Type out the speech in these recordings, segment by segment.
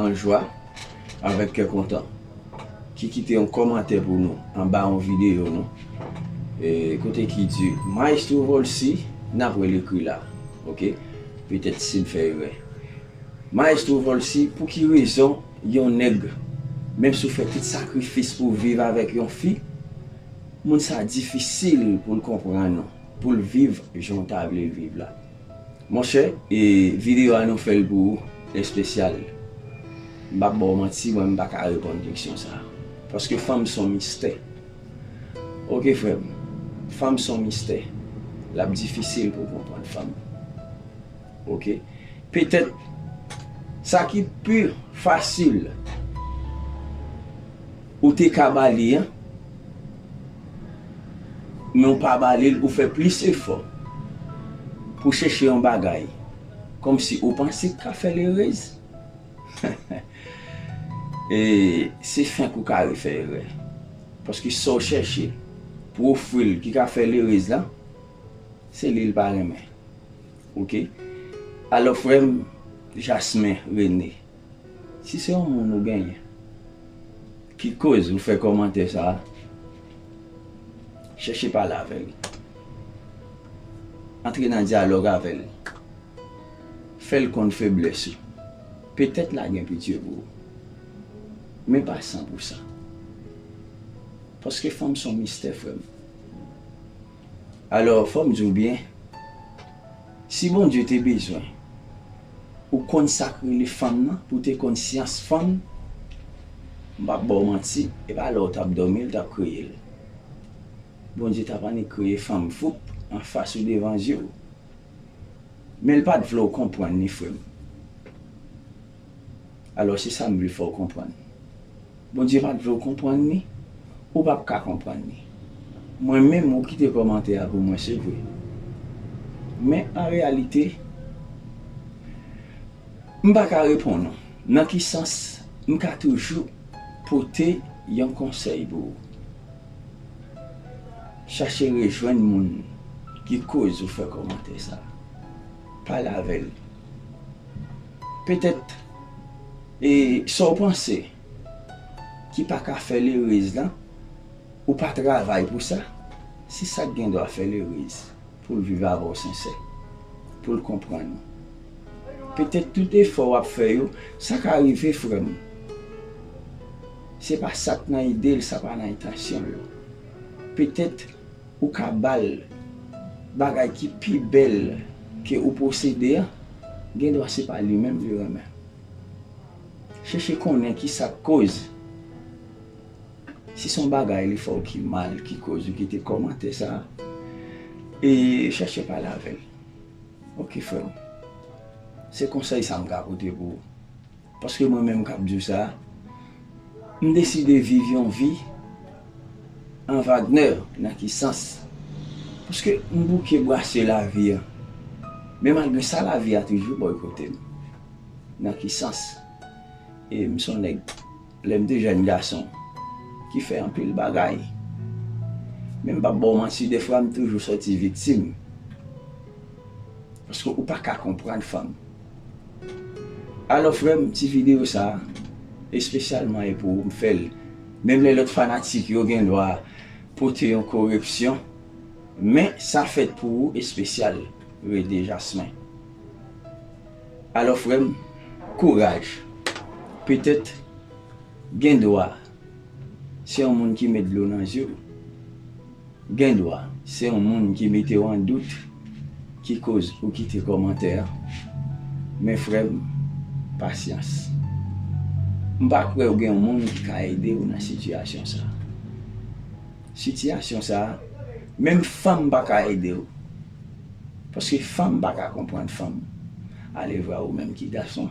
An jwa, avèk kè kontan. Ki kite yon kòmantè pou nou anba yon videyo nou. E kote ki di Maestro Volcy nap wèl ekri la ok petèt sim fè erè Maestro Volcy pou ki rezon yon nèg menm si w fè tout sakrifis pou w viv avèk yon fi moun sa difisil pou l konprann ou pou l viv jan w ta vle l viv la. Monchè e video a nou fèl pou ou espesyal m pap baw manti mwen m paka reponn keksyon sa paske fanm son mistè ok frèm fanm son mistè lap difisil pou konprann fanm ok petèt sa ki pi fasil ou te ka bali an. Men ou pa bale l ou fè plis efò pou w chèche yon bagay kòmsi ou panse k ka fè l erez e se fenk ou ka refè erè paske sa w chèche pou w ofri l ki ka fè l erez la se li l pa renmen ok alò frè m Jasmin René. Si se yon moun ou genyen ki koz ou fè kòmantè sa a, chèche pale avè l. Antre nan dyalòg avè l. Fè l konn feblès ou. Petèt la gen pitye pou ou. Men pa san pou san. Paske fanm son mistè frè m. Alò, fò m di w byen, si Bondye te bezwen ou konn sa k rele fanm nan, pou w te konn syans fanm, m p ap ba w manti, e pa lè w t ap dòmi l t ap kreye l. Bondye t ap annik kreye fanm foup anfas ou devan zye w. Men l pa t vle w konprann ni frè m. Alò se sa m vle fè w konprann. Bondye pa t vle w konprann ni ou pap ka konprann ni. Mwen menm ou kite kòmantè a pou mwen se vre. Men an reyalite m pa ka reponn ou nan ki sans m ka toujou pote yon konsèy pou ou. Chache rejwenn moun ki koz ou fè kòmantè sa. Pale avè l. Petèt e sa w panse ki pa ka fè l erez lan, ou pa travay pou sa, se sa k gen dwa fè l erez pou l viv avè w sensè, pou l konprann ou. Petèt tout efò w ap fè yo, sa ka rive frè m, se pa sa k nan ide l, sa pa nan entansyon l yo. Petèt. Ou ka ba l bagay ki pi bèl ke ou posede an, gendwa se pa li menm li renmen. Chèche konnen ki sa k koz. Si se yon bagay li fè w ki mal ki koz ou kite kòmantè sa a, e chèche pale avè l. Ok frè m. Se konsèy sa m ka pote pou ou. Paske mwen menm kap diw sa, m deside viv yon vi an Wagner nan ki sans? Paske m bouke bwase lavi an, men malgre sa lavi a toujou bòykote m. Nan ki sans? E m son nèg lè m te jèn gason ki fè anpil bagay. Men m pap baw manti defwa m toujou sòti viktim. Paske ou paka konprann fanm. Alò frèm ti video sa espesyalman e pou ou m fèl menm lè lòt fanatik yo gen dwa pote yon korepsyon men sa fèt pou ou espesyal Rede Jasmin Alò frèm kouraj petèt gen dwa se yon moun ki met dlo nan zye w. Gendwa se yon moun ki mete w an dout ki koz ou kite kòmantè an. Men frè m, pasyans. M pa kwè ou gen yon moun ki ka ede w nan sitiyasyon sa a. Sitiyasyon sa a, menm fanm pa ka ede w. Paske fanm pa ka konprann fanm. Alevwa ou menm ki gason.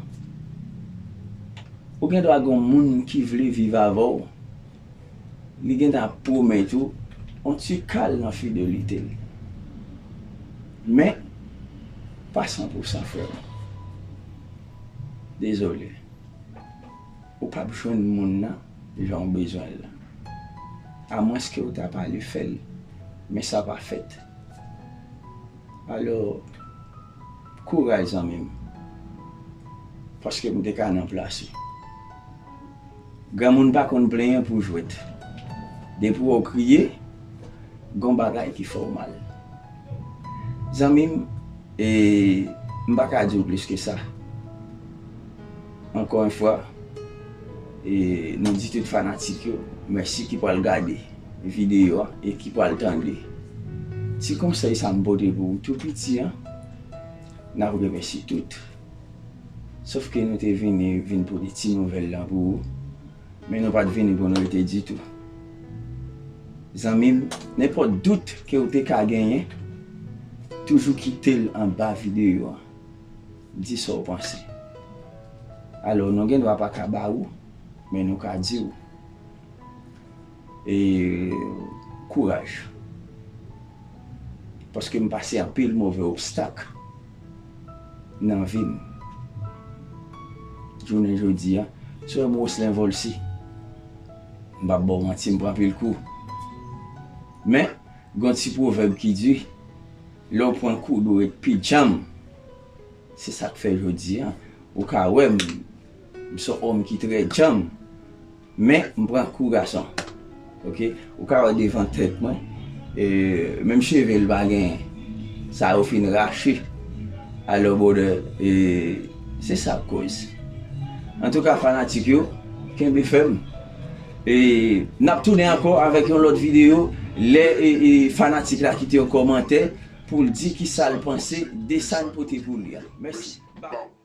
Ou gen dwa gon moun ki vle viv avè w, li gen tan ap pwomèt ou on ti kal nan fidelite l. Men, pa san pou san frè m. Dezole. Ou pap jwenn moun nan jan w bezwen l lan. A mwens ke ou ta pale fè l, men sa pa fèt. Alò. Kouraj zanmim paske m te ka nan plas u. Granmoun pa konn plenyen pou jwet. Depi wè w kriye gon bagay ki fè w mal. Zanmim e m pa ka di w plis ke sa. Ankò yon fwa e nou di tout fanatik yo mèsi ki pral gade. videyo a e ki pral tande ti konsèy sa m pote pou ou tou piti an, n ap remèsye tout. Sof ke nou te vini vin pote ti nouvèl lan pou ou, men nou pa t vini pou n rete ditou. Zanmi m, nenpòt dout ke ou te ka genyen, toujou kite l anba videyo an. Di sa w panse. Alò, nou gen dwa pa ka ba ou, men nou ka di ou. E kouraj. Paske m pase anpil move obstak nan vi m. Jounen jodi a, si w wè m Roselin Volcy, m p ap ba w manti, m pran anpil kou. Men, gen yon ti pwovèb ki di, lè w pran kou dwe ret pi djanm. Se sa k fè jodi a, ou ka wè m, m s on òm ki trè djanm. Men m pran kou gason ok ou ka wè devan tèt mwen menm cheve l pa genyen sa yo fin rache alò brother e se sa k koz antouka fanatik yo kenbe fèm e n ap tounen ankò avèk yon lòt videyo lè fanatik la kite yon kòmantè pou l di kisa l panse de sa n pote pou li a mèsi baww.